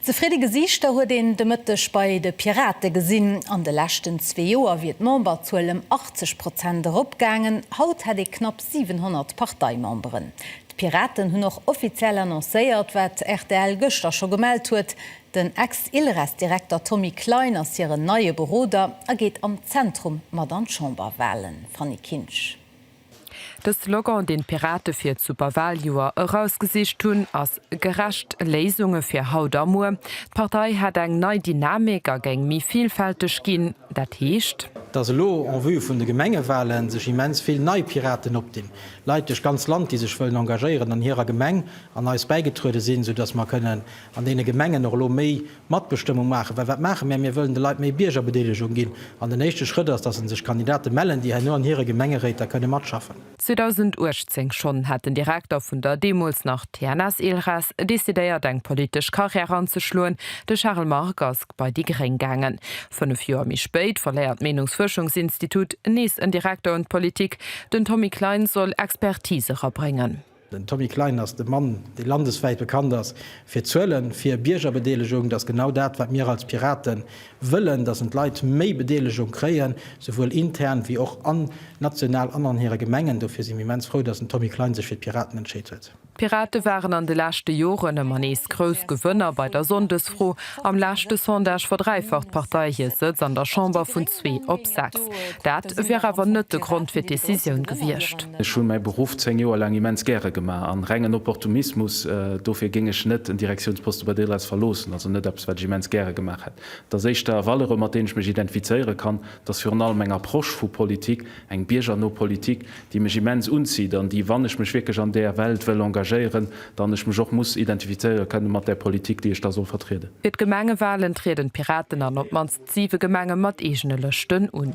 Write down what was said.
Zefridde Gesiichter huet een de Mëtteg bei de Pirate gesinn. An de leschten zwee Joer wier d'Memberzuel ëm 80 Prozent eropgaangen. Haut hätt ee knapp 700 Parteimemberen. D'Piraten hunn och offiziell annoncéiert, wat rtl gëschter scho gemellt huet, Den Ex-Ilres-Direkter Tommy Klein ass hiren neie Beroder a geet am Zentrum mat an d'Chamberwalen. Fanny Kinsch. De Slogan, deen d'Pirate fir d'Superwaljoer erausgesicht hunn, ass Gerecht Léisunge fir haut a muer. D'Partei hätt eng nei Dynamik a géing méi vilfälteg ginn. Dat heescht. Datt elo en vue vun de Gemengewalen sech immens vill nei Piraten opdinn, Leit duerch d'ganz Land, déi sech wëllen engagéieren an hirer Gemeng, an eis bäigetruede sinn, soudatt mer kënnen an deene Gemengen och elo méi Matbestëmmung maachen, well wat maache mär? Mir wëllen de Leit méi Biergerbedeelegung ginn an den éischte Schrëtt ass, dass sech Kandidate mellen, déi herno an hire Gemengeréiter kënne matschaffen. 2018 schonn hat den Direkter vun der deemools nach TNS Ilres decidéiert eng politesch Carrière anzeschloen, de Charles Margue ass bei déi Gréng gaangen. Fënnef Joer méi spéit verléiert d'Meenungsfuerschungsinstitut nees en Direkter un d'Politik, den Tommy Klein soll Expertise erabréngen. Den Tommy Klein ass de Mann, dee landeswäit bekannt ass fir Zuelen, fir Biergerbedeelegung. Et ass genau dat, wat mir als Pirate wëllen, dass en d'Leit méi Bedeelegung kréien, souwuel intern wéi och an national an an hire Gemengen. Dofir si mir immens frou, dass den Tommy Klein sech fir d'Piraten entscheet huet. D'Pirate waren an de leschte Joren ëmmer nees grouss Gewënner bei der Sonndesfro. Am leschte Sondage verdräifacht d'Partei hir Sëtz an der Chamber vun. Zwee op sechs, dat wier awer net de Grond fir d'Decisioun gewiescht. Ech hu mäi Beruff zéng Joer laang immens gäre gemaach a rengen Opportumismus dofir géing ech net en Direktiounsposte bei Delhaize verloossen. Ass net eppes, wat ech immens gäre gemaach hätt. Et ass éischter e Valeurë mat deenen ech mech identifizéiere kann, et ass virun allem eng Approche vu Politik, eng biergerno Politik, déi mech immens unzitt an déi, wann ech mech wierklech an där Welt wëll engagéieren, dann ech mech och muss identifizéiere kënne mat där Politik, déi ech da soll vertrieden. Fir d'Gemengewalen trieden d'Piraten an op d'mannst siwe Gemenge mat eegene Lëschten un.